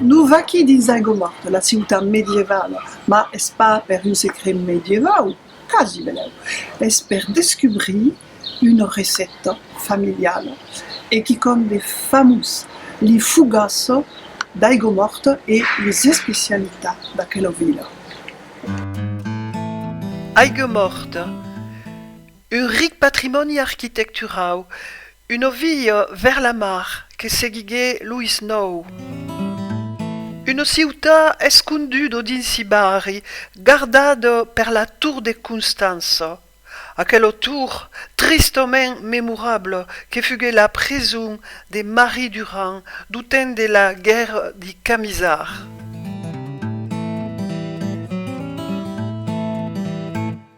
Lo vaquí dins aigomar de la ciutat medievala, mas es pas per un secret medievau. Quasi benlèu. Es per descubrir una receta familiala e quicòm de famós, li fogaçò d'Aigomòrta e les especialitats d'aquela vila. Aigomòrta, un ric patrimòni arquitecturau, Un ovilh vèrs la mar que seguiguè lo isnòu. Una ciutat esconduda dins si barri gardada per la tour de Constança, aquela tour tristament memorabla que fuguè la preson de Marie Durand dau temps de la guèrra di Camisard.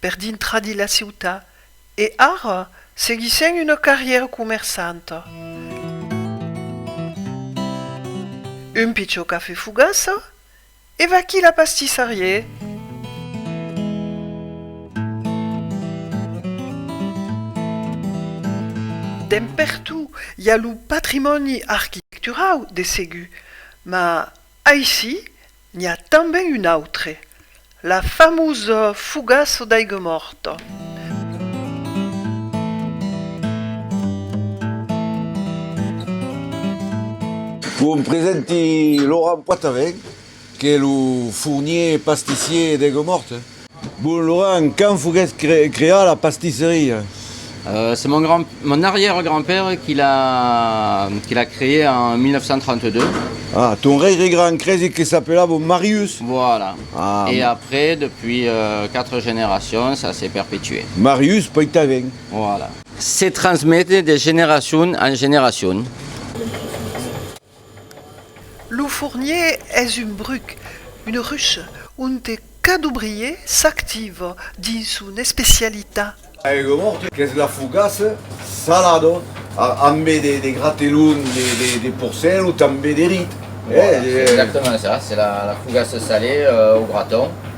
per dintra di la ciutat e ara seguissent una carrièra comerçanta. Un pichó café fogassa e vaquí la pastissarier. Dens pertú i a lo patrimòni arquitecturau de segur, mas aicí N'i a tanben un autre, la famosa Fogaço d'Aiguemòrta. Que me presenti Laurent Poitevin, qu'es lo fournier pastissier d'Aiguemòrta. Bon Laurent, quand foguèt creada la pastisseria? C'est mon grand, mon arrière grand père qui l'a qui l'a créé en 1932. Ah, ton rèire grand cresi que s'apelava Marius? Voilà. Ah. Et après depuis quatre générations ça s'est perpétué. Marius Poitavin. Voilà. Se transmete de generacion en generacion. Lo fournier es un bruc, una rucha, onte cada obrier s'activa dins son especialitat. Aigomòrta, qu'es la fogassa salada ambe de gratelon de porcèn o tanbe de rit. Vòla, es exactament ça, se la fogassa salée au graton.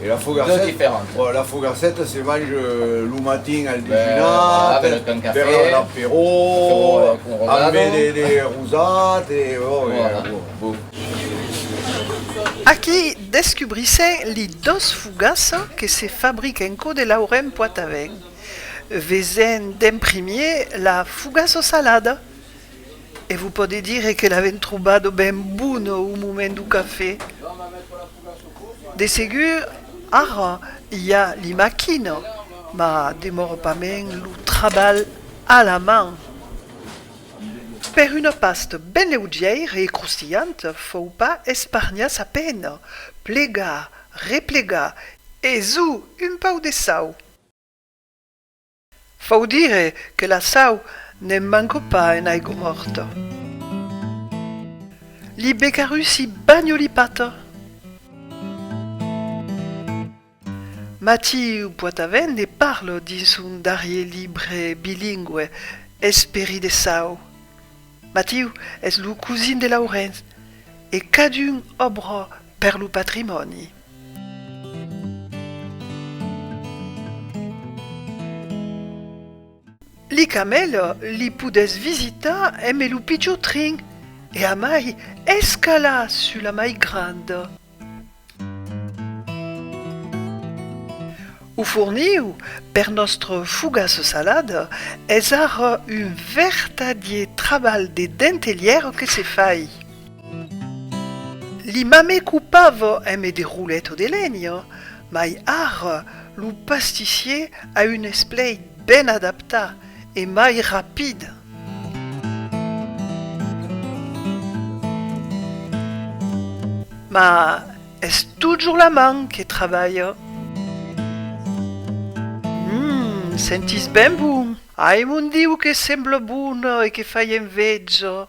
E la fogasseta? La fogasseta se mange lo matin al dejunat, per l'apero, ambe de rosat e bon. Aquí descubrissèm li dos fogassas que se fabriquen cò de Laurent Poitavin. Vesèm d'en primier la fogassa salada. E vos pòde dire que l'avèm trobada ben bona au moment du cafè. De segur, ara i a li maquina, ma demòra pas mens lo trabalh a la man. Per una pasta ben leugièira e crostilhanta fau pas esparnhar sa pena, plegar, replegar e zuu un pauc de sau. Vòu dire que la sau ne manco pas en Aigomòrta? Li beccarussi bagno li pata! Matiu Poitavent ne parla dins son darrier libre bilingüe, Esperit de sau. Matiu es lo cosin de Laurenç e cadun òbra per lo patrimòni. Li camèl li podètz visitar eme lo pichor trin e amai escalar sus la mai granda. O forniu per nòstre fugaç salada es ara un vertadier trabalh de dentelièr que se fai. Li mame cupavo eme de rouleto de legno, mai ara lo pastissié a un esplei ben adapta e mai rapid. Mas es totjor la man que trabalha. Hum, sentís ben bon! Ai mon Diu que sembla bona e que fai enveja!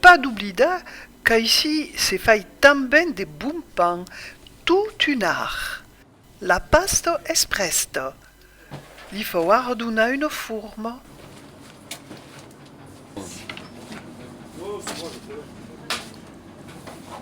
Pas d'oblidar qu'aicí se fai tanben de bon pan, tot un art! La pasta es prèsta, li fau ara donar una forma.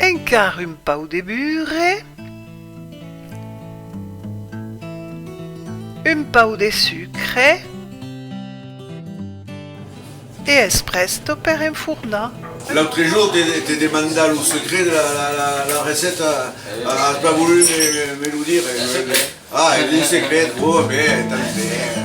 Encara un pau de burre. Un pau de sucre. E es presto per enfornar. L'autre jour te demanda lo secret de la receta as pas voulu me lo dire. Ah es un secret, bon ben tant pis.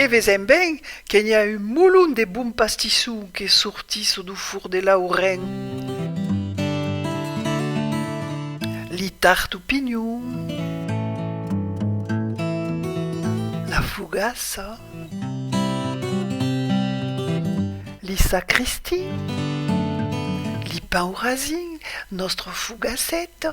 E vesèm ben que n'i a un molon de bon pastisson que sortisso do four de Lauren. Li tart o pinhon. La fogassa. Li sacristin. Li pan o rasin. Nòstre fogassèt.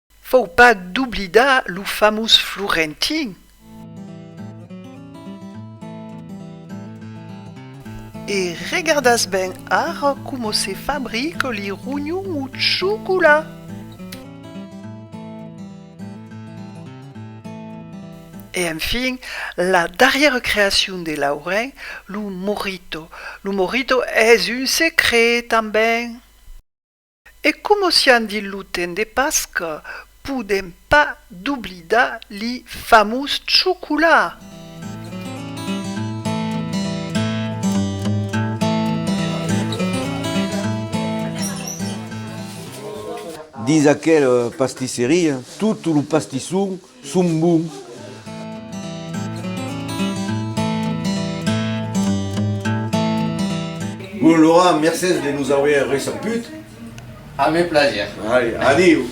Fau pas d'oblidar lo famós Florentin. E regardas ben ara coma se fabrica li ronhons au chocolat! E enfin, la darrièra creacion de Lauren, lo Morrito. Lo Morrito es un secret tanben! E coma siam dins lo temps de Pasca, podèm pas doblidar li famós chocolat! Dins aquela pastisseria, tot lo pastisson son bon. Bon Laurent, mercés de nos auer recebut. A me plaser. Allez, adiu.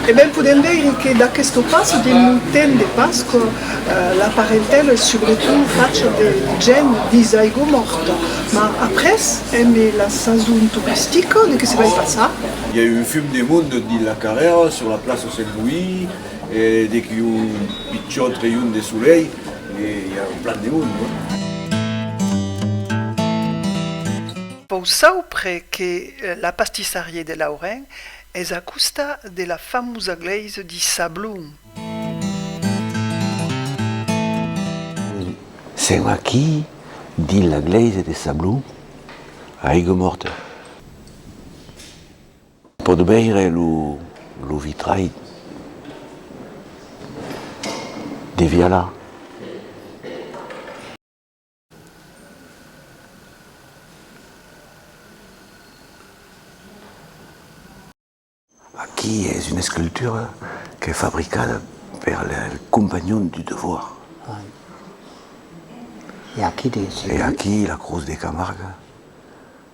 E ben podem veire que d'aquesto pas de lo temps de Pasqua, la parentèla es subretot facha de gent visaigau mòrta. Mas après, eme la sason toristica, de que se vai passar? I a eu un fum de monde dins la carrèra sur la plaça Se luí e dequi un pichòt reilhon de solelh e i a un plan de hond. Vos saupre que la pastissarier de Lauren es a costa de la famosa glèisa di Sablon. Sèm aquí dins la glèisa de Sablon a Aiguemòrta. Pòt veire lo vitrai de Vialà. Aquí es una escultura qu'es fabricada per le Compagnons du Devoir. E aquí la Crotz de Camarga.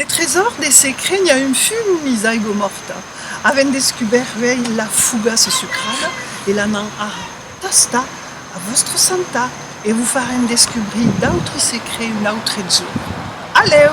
De tresòr, de secret, n'i a un fum mis aigua mòrta. Avèm descubèrt uèi la fogassa sucrada de la man ara. Tasta, a vòstra santa, e vos farem descubrir d'autres secrets un autre jorn. Alèu!